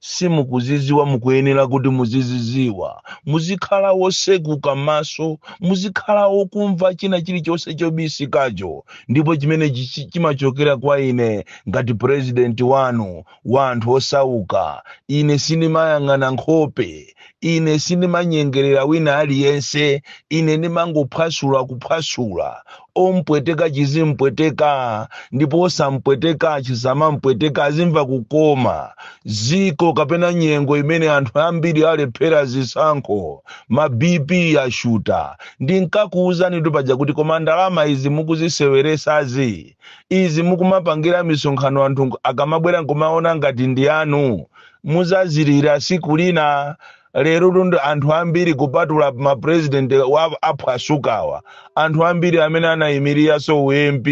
simukuziziwa mukuyenera kuti muziziziwa muzikhala wosekuka maso muzikhala wokumva china chilichonse chobisikacho ndipo chimene chichi- chimachokera kwa ine ngati purezidenti wanu wa anthu osauka ine sindimayang'ana nkhope ine sindimanyengerera wina aliyense ine ndimangophwasula kuphwasula ompweteka chizimpweteka ndipo osampweteka chisamampweteka azimva kukoma ziko kapena nyengo imene anthu ambiri alephera zisankho ma bp yashuta ndinkakuwuzanitu paja kuti koma ndalama izi mukuziseweresazi izi mukumapangira misonkhano anthu akamabwera nkumaona ngati ndi anu muzazilira siku lina lerotu ndi anthu ambiri kupatula ma president wa- aphwasukawa anthu ambiri amene anayimiriraso u mp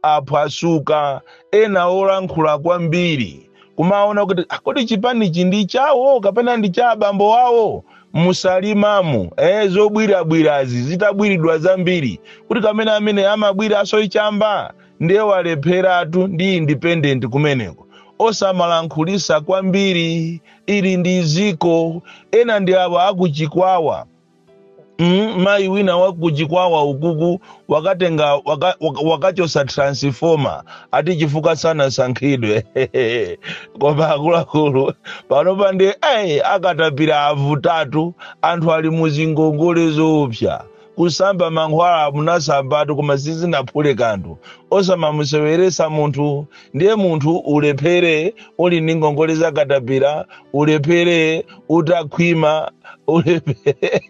aphwasuka ena olankhula kwambiri kumaona kuti "Ah, kodi chipanichi ndi chawo kapena ndi cha abambo wawo mu salimamu eh, zobwirabwirazi zitabwiridwa zambiri kuti kamene amene amabwira asoichamba ndiye walepheratu ndi independent kumeneko osamalankhulisa kwambiri ili ndi ziko ena ndi awa akuchikwawa mm, mayi wina wakuchikwawa ukuku wakatenga waka, waka, wakachosa transformer ati chifukwa sanasankhidwe koma akuluakulu panopa nde ayi akatapira avutatu anthu ali muzingongole zoopsa kusamba mankhwala munasambatu koma sizinaphule kanthu osamamuseweresa munthu ndiye munthu ulephere uli ndi ngongole za katapira ulephere utakhwima ulephere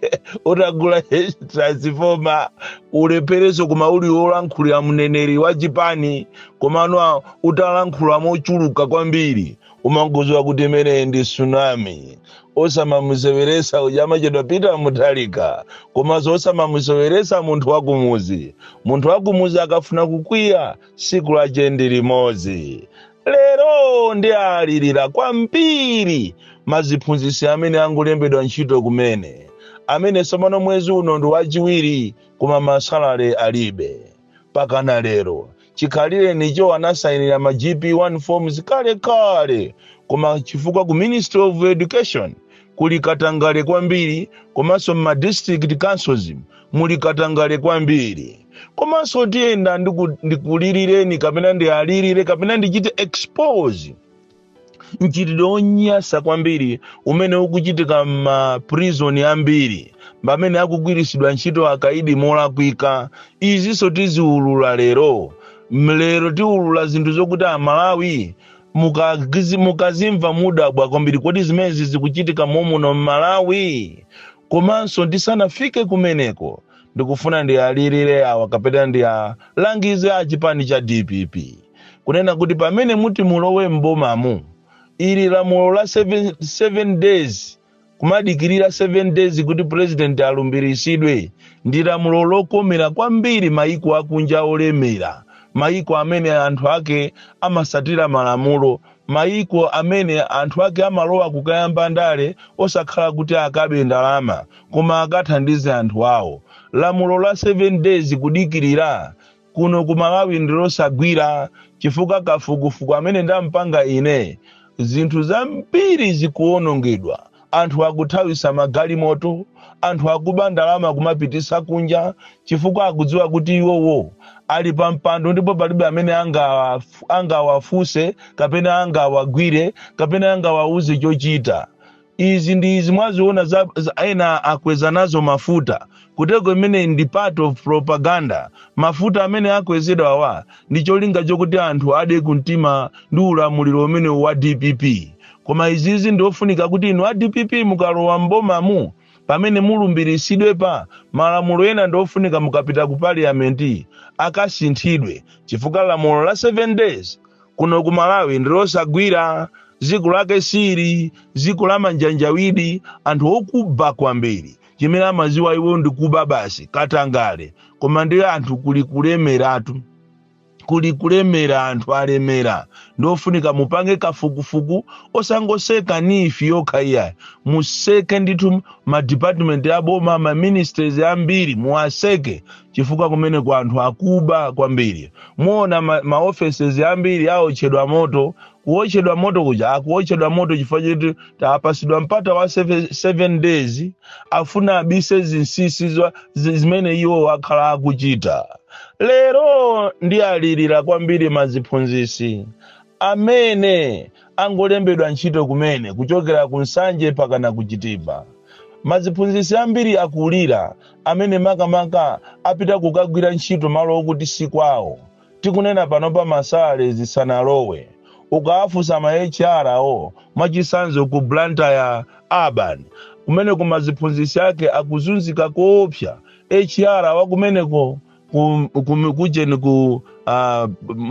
utagula transifoma ulephereso koma uli wolankhulira mneneri wa chipani komano utalankhula mochuluka kwambiri umangoziwa kuti imeneyi ndi tsunami osamamuseweresa uja amachedwa peter mutharika komanso osamamuseweresa munthu wakumuzi munthu wakumuzi akafuna kukwiya siku lache ndi limodzi lero ndialirira kwambiri maziphunzisi amene angolembedwa ntchito kumene amene tsopano mwezi uno ndi wachiwiri koma masalale alibe mpakana lero. Chikhalirenicho anasainira ma GP1 forms kale kale koma chifukwa ku Ministry of Education kuli katangale kwambiri komanso mma district councils muli katangale kwambiri. Komanso tiyenda ndiku- ndikulilireni kapena ndialirire kapena ndichite expose mchitidwe wonyasa kwambiri umene ukuchitika m'maprizoni ambiri pamene akugwiritsidwa ntchito akaidi molakwika izinso tiziulula lero mlero tiulula zinthu zokuti aMalawi mukagizi- mukazimva mudabwa kwambiri kodi zimenezi zikuchitika momuno m'Malawi Komanso ndisanafike kumeneko ndikufuna ndialirire awa kapena ndialangize a chipani cha dpp kunena kuti pamene muti mulowe m'bomamu ili lamulo la 7, 7 days kumadikirira 7 days kuti president alumbiritsidwe ndi lamulo lokomera kwambiri maiko akunja olemera maiko amene anthu ake amasatira malamulo Mayiko amene anthu ake amalowa kukayamba ndale osakhala kuti akabe ndalama koma akathandize anthu awo. Lamulo la 7 days kudikirira kuno ku Malawi ndilosagwira chifukwa kafukufuku amene ndampanga ine zinthu zambiri zikuwonongedwa Anthu akuthawisa magalimoto, anthu akuba ndalama kumapitisa kunja chifukwa akudziwa kuti iwowo ali pa mpando ndipo palibe amene angawafu- angawafuse kapena angawagwire kapena angawauze chochita. Izi ndi izi mwaziona za, za ena akweza nazo mafuta Kuteroko imeneyi ndi part of propaganda. Mafuta amene akwezedwawa ndi cholinga chokuti anthu ade kumtima ndi ulamuliro umene wa dpp. Koma izizi ndi ofunika kuti inu a dpp mukalowa m'bomamu pamene mulumbirisidwepa malamulo ena ndi ofunika mukapita ku parliament akasinthidwe chifukwa lamulo la 7 days kuno ku Malawi ndi losagwira. Ziku lake siili, ziku la manjanjawidi, anthu okuba kwambiri. Chimene amaziwa iwo ndi kuba basi, katangale. Koma ndi anthu kuli kulemeratu. Kuli kulemera anthu alemera. Ndiofunika mupange kafukufuku osangoseka NEEF yokha iyayi. Museke ndithu ma department a boma, ma ministries ambiri muwaseke chifukwa kumeneko anthu akuba kwambiri. Muona ma, ma offices ambiri aotchedwa moto kuotchedwa moto kuja akuotchedwa moto chifukwa choti apasidwa mpata wa seve- seven days afuna abise zinsisi zwa- zi- zimene iwowa akhala akuchita lero ndialirira kwambiri maziphunzisi amene angolembedwa ntchito kumene kuchokera ku Nsanje pakana ku Chitipa maziphunzisi ambiri akulira amene makamaka apita kukagwira ntchito malo okuti si kwawo tikunena panopa ma salaries sanalowe ukawafunsa ma HR wo mwachisanzo ku Blantyre urban kumeneko maziphunzisi ake akuzunzika koopsa HR wakumeneko ku, ku, kujeni ku uh,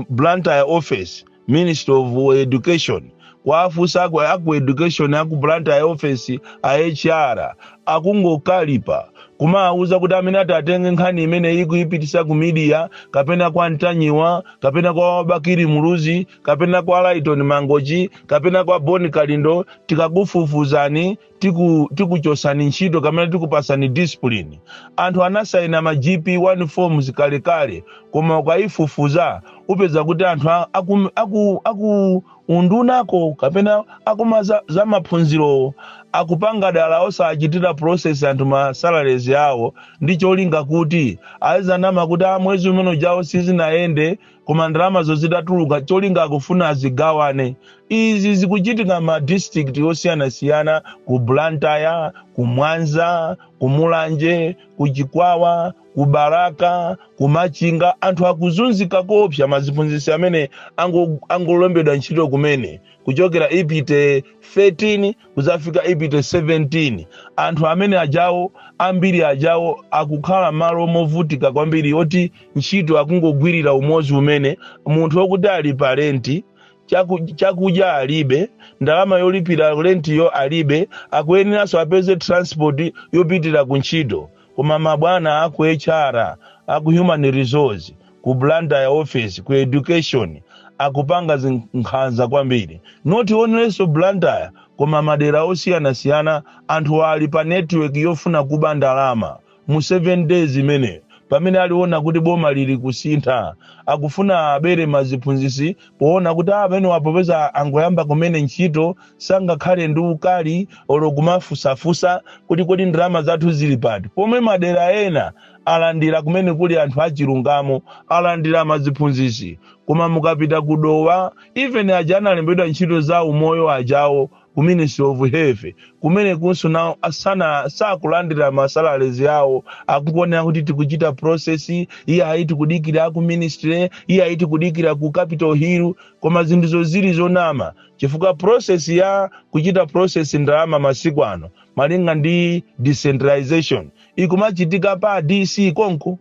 Blantyre office ministry of education kuwafunsa aku, aku education aku blantyre office a hr akungokalipa kumawuza kuti amene atatenge nkhani imeneyi kuyipititsa ku media kapena kwa ntanyiwa kapena kwa bakiri muluzi kapena kwa laiton mangochi kapena kwa boni kalindo tikakufufuzani tiku tikuchosani ntchito kapena tikupasani discipline anthu anasaina ma gp 1 forms kalekale koma ukayifufuza upeza kuti anthu a- aku, aku, aku undunako kapena akuma za, za maphunzirowo akupanga dala osachitira process anthu ma salaries awo ndi cholinga kuti azinama kuti a mwezi umene ujawo sizinayende koma ndalamazo zitatuluka cholinga akufuna azigawane izi zikuchitika ma district osiyanasiyana ku blantyre ku mwanza ku mulanje ku chikwawa ku balaka ku machinga anthu akuzunzika koopsa maziphunzitsi amene ango- angolembedwa ntchito kumene kuchokera ipite 13 kuzafika ipite 17 anthu amene ajawo ambiri ajawo akukhala malo movutika kwambiri oti ntchito akungogwirira umodzimmene munthu okuti ali pa renti chaku- chakudya alibe ndalama yolipira rentiyo alibe akuyeneranso apeze transport yopitira ku ntchito koma mabwana aku hr aku human resource ku blantyre office ku education akupanga zinkhanza kwambiri not only blantyre koma madera osiyanasiyana anthu ali pa network yofuna kuba ndalama mu 7 days imeneyo pamene akuona kuti boma lili kusintha akufuna abere maziphunzisi poona kuti amenewa popeza angoyamba kumene ntchito sangakhale ndi ukali olo kumafusafusa kuti kodi ndalama zathu zili pati pomwe madera ena alandira kumene kuli anthu achilungamo alandira maziphunzisi koma mukapita ku dowa even aja analembedwa ntchito za umoyo ajawo ku ministry of health kumene kunso nawo asana sakulandira ma salaries awo akukuonera kuti tikuchita process iye ayi tikudikira ku ministry iye ayi tikudikira ku capital hill koma zinthuzo zili zonama chifukwa process ya kuchita process ndalama masiku ano malinga ndi decentralization ikumachitika pa dc konko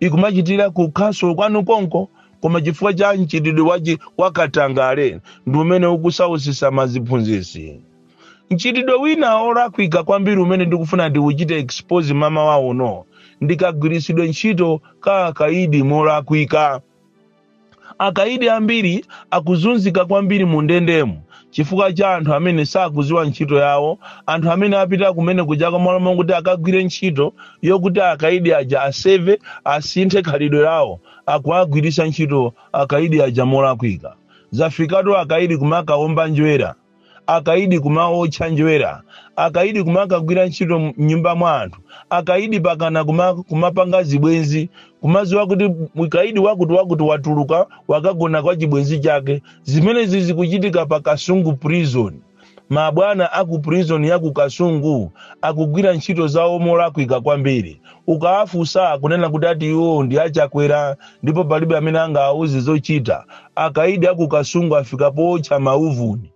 ikumachitira ku council kwanu konko koma chifukwa cha mchitidwe wachi wakatangale ndi umene ukusausisa maziphunzisi mchitidwe wina olakwika kwambiri umene ndikufuna ndiuchite expose mmawa uno ndikagwiritsidwe ntchito ka akaidi molakwika Akaidi ambiri akuzunzika kwambiri mundendemu chifukwa cha anthu amene sakuziwa ntchito yawo, anthu amene apita kumene kujako malo mokuti akagwire ntchito yokuti akaidi aja aseve, asinthe khalidwe lawo, akuwagwiritsa ntchito akaidi aja molakwika. Zafikatu akaidi kumakawomba njwera. akaidi kumaotcha njwera akaidi kumakagwira ntchito mnyumba mwa anthu akaidi pakana kuma, kumapanga zibwenzi kumaziwa kuti mkaidi wakuti wakuti watuluka wakagona kwa chibwenzi chake zimenezi zikuchitika pa kasungu prison mabwana aku prison ya ku kasungu akugwira ntchito zawo molakwika kwambiri Ukawafunsa akunena kuti ati iwo ndi a Chakwera ndipo palibe amene angawauze zochita. Akaidi a ku Kasungu afika pootcha mauvuni.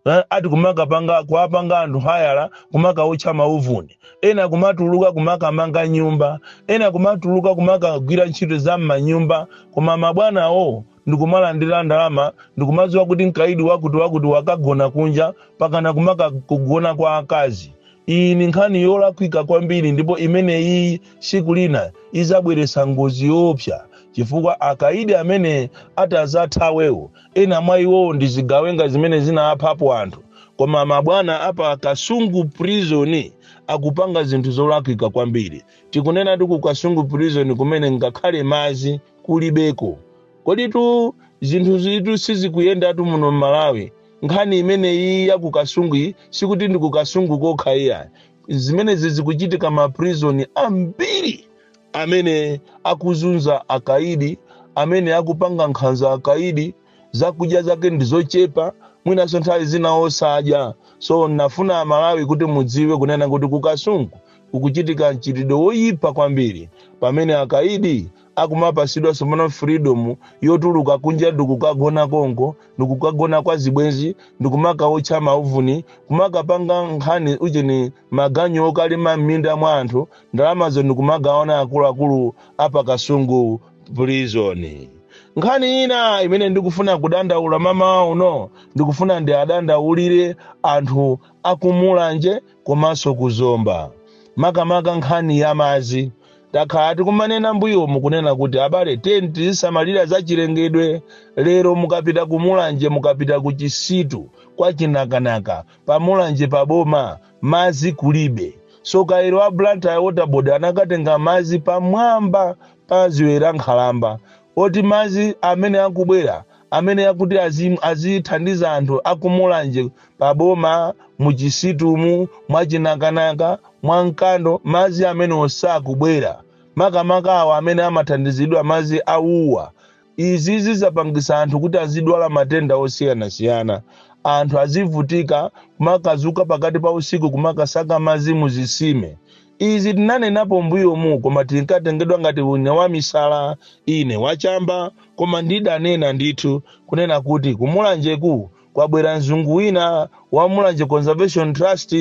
Eh, ati kumakapanga kuwapanga anthu hayala kumakaotcha mauvuni. Ena kumatuluka kumakamanga nyumba. Ena kumatuluka kumakagwira ntchito za m'manyumba koma mabwanawo ndikumalandira ndalama ndikumadziwa kuti mkaidi wakuti wakuti wakagona kunja pakana kumakakugona kwa akazi iyi ni nkhani yolakwika kwambiri ndipo imene iyi tsiku lina izabweretsa ngozi yoopsa chifukwa akaidi amene atazathawewo ena mwa iwowo ndi zigawenga zimene zinaphapo anthu koma mabwana apa kasungu prison akupanga zinthu zolakwika kwambiri tikunena kuti ku kasungu prison kumene ngakhale madzi kulibeko koditu zinthu zitu sizikuyendatu muno m'malawi nkhani imene iyi ya kukasungu sikuti ndi kukasungu kokha iya zimenezi zikuchitika maprizoni ambiri amene akuzunza akaidi amene akupanga nkhanza akaidi zakudya zake ndi zochepa mwinanso nthawi zina osadya so nafuna amalawi kuti mudziwe kunena kuti kukasungu kukuchitika mchitidwe woyipa kwambiri pamene akaidi akumapasidwa sopano freedom yotuluka kunja ndikukagona konko ndikukagona kwa zibwenzi ndikumakaotcha mauvuni kumakapanga nkhani ujeni maganyu okalima m'minda mwa anthu ndalamazo ndikumagawana akuluakulu apakasungu prison nkhani ina imene ndikufuna kudandaula mamawa uno ndikufuna ndiwadandaulire anthu akumulanje komanso ku Zomba. Makamaka nkhani ya madzi takhala tikumanena mbuyomu kunena kuti abale tizisamalira za chilengedwe. Lero mukapita ku Mulanje, mukapita ku Chisitu kwa Chinakanaka, pa Mulanje pa boma madzi kulibe. So kairo a Blantyre Water Board anakatenga madzi pamwamba pa Dziwe la Nkhalamba oti madzi amene akubwera amene akuti azim- azithandiza anthu aku Mulanje pa boma mu Chisitumu mwa Chinakanaka mwa Mkando madzi amenewo sakubwera makamaka awa amene amathandizidwa madzi awuwa izi zizapangisa anthu kuti azidwala matenda osiyanasiyana anthu azivutika kumakazuka pakati pa usiku kumakasaka madzi muzisime Izi tinanenapo mbuyomu koma tinkatengedwa ngati ine wamisala, ine wachamba koma ndidanena ndithu kunena kuti ku Mulanjeku kwabwera mzungu wina wa Mulanje Conservation Trust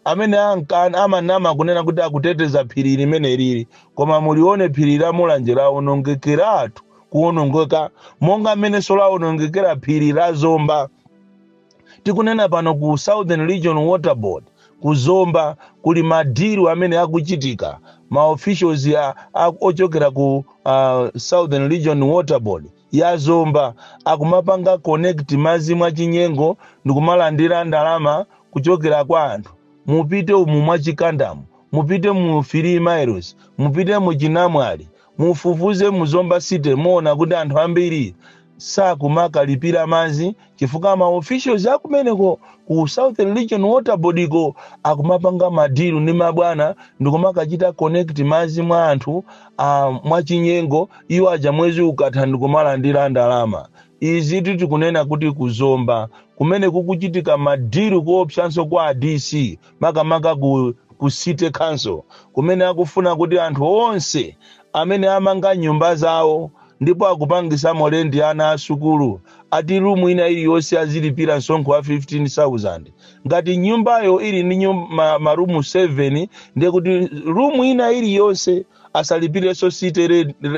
amene anka amanama kunena kuti akuteteza phiri limeneliri koma mulione phiri la Mulanje lawonongekeratu kuwonongeka monga mmenenso lawonongekera phiri la Zomba. Tikunena pano ku Southern Region Water Board ku Zomba kuli ma deal amene akuchitika ma officials a, a, ochokera ku uh, Southern Region Water Board ya Zomba akumapanga connect madzi mwachinyengo ndikumalandira ndalama kuchokera kwa anthu mupite umu mwa Chikandamu mupite mu 3 miles mupite mu Chinamwali Mufufuze mu Zomba City muona kuti anthu ambiri sakumakalipira madzi chifukwa ma officials akumeneko ku Southern Region Water Board ko akumapanga ma deal ndi mabwana ndikumakachita connect madzi mwa anthu a mwachinyengo iwo aja mwezi ukatha ndikumalandira ndalama. Izi tikunena kuti ku Zomba kumene kukuchitika ma deal koopsanso kwa a DC makamaka ku, ku city council kumene akufuna kuti anthu onse amene amanga nyumba zawo ndipo akupangisamo lendi ana a sukulu ati rumu ina iliyonse azilipira msonkho wa 15000 ngati nyumbayo ili ndi nyum- ma- marumu 7 ndiye kuti rumu ina iliyonse asalipirenso city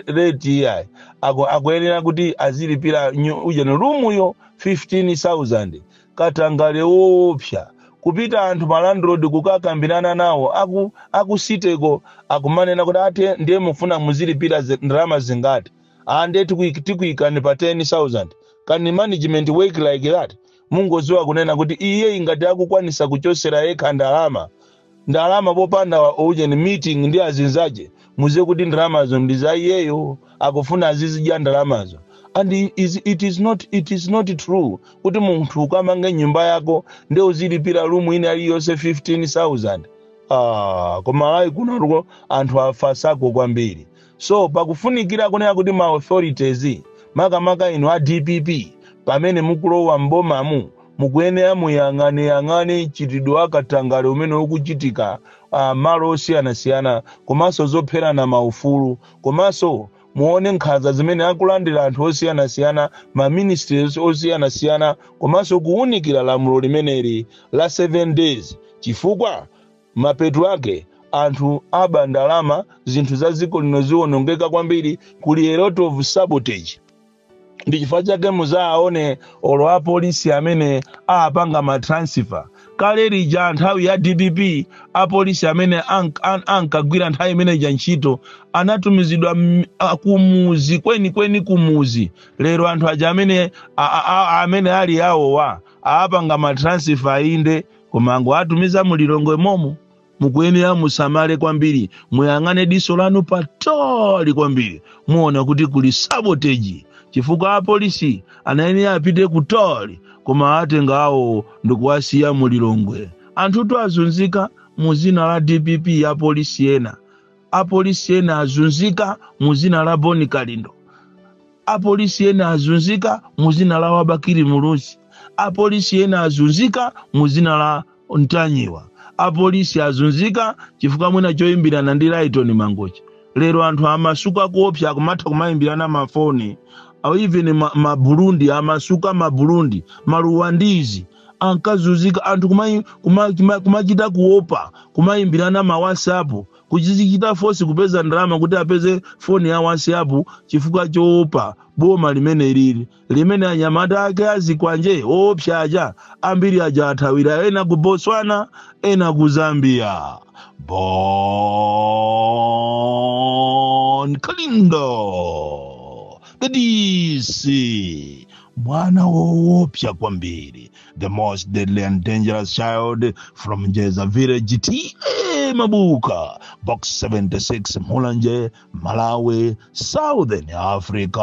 rate iyayi Aku- akuyenera kuti azilipira nyu- ujeni rumuyo 15000 katangale woopsa kupita anthu ma landlord kukakambirana nawo aku aku city ko akumanena kuti ate ndiye mufuna muzilipira zi- ndalama zingati ah ndiye tikuik- tikuikani pa 10000 can management work like that mungoziwa kunena kuti iye ingati akukwanisa kuchosera yekha ndalama ndalama popanda ujeni meeting ndi azinzache muziwe kuti ndalamazo ndi za iyeyo akufuna azizidya ndalamazo and i- is, it, is not, it is not true kuti munthu ukamange nyumba yako nde uzilipira rumu ina iliyonse 15000 ah, koma ayi kunoko anthu afasako kwambiri So pakufunikira kunena kuti ma authorities makamaka inu a dpp pamene mukulowa m'bomamu mukuyenera muyang'aneyang'ane mchitidwe wa katangale umene ukuchitika ah, malo osiyanasiyana komanso zopherana maufulu komanso muone nkhanza zimene akulandira anthu osiyanasiyana ma ministries osiyanasiyana komanso kuwunikira lamulo limeneli la 7 days chifukwa Mapeto ake anthu aba ndalama, zinthu za dziko lino ziwonongeka kwambiri, kuli a lot of sabotage. Ndi chifukwa chake muzaaone olo a police amene aapanga ma transfer. Kale lija nthawi ya dpp a police amene ank, an, ankagwira nthawi imene ija ntchito anatumizidwa mm, a, kumuzi kwenikweni kumuzi. Lero anthu aja amene a, a, a, amene ali awowa aapanga ma transfer inde koma angowatumiza mu lilongwe momo mukuyenera musamale kwambiri muyang'ane diso lanu patali kwambiri muona kuti kuli sabotage chifukwa apolisi anayenera apite kutali koma atenga awo ndikuwasiya mu lilongwe anthutu azunzika mu zina la dpp apolisi ena apolisi ena azunzika mu zina la boni kalindo apolisi ena azunzika mu zina la bakili muluzi apolisi ena azunzika mu zina la ntanyiwa apolisi azunzika chifukwa mwina choyimbirana ndi laitoni mangochi lero anthu amasuka kuopsa kumatha kumayimbirana mafoni even ma, ma burundi amasuka ma burundi maluwandizi ankazunzika anthu kumai- kuma- kuma- kumachita kuopa kumayimbirana ma whatsapp kudzichita force kupeza ndalama kuti apeze foni ya whatsapp chifukwa choopa boma limene lili limene anyamata ake azikwanje oopsa aja ambiri aja athawira ena ku botswana ena ku zambia bon kalindo the dc Mwana woopsa kwambiri, the most deadly and dangerous child from Jeza village TA Mabuka, box 76 Mulanje, Malawi, Southern Africa.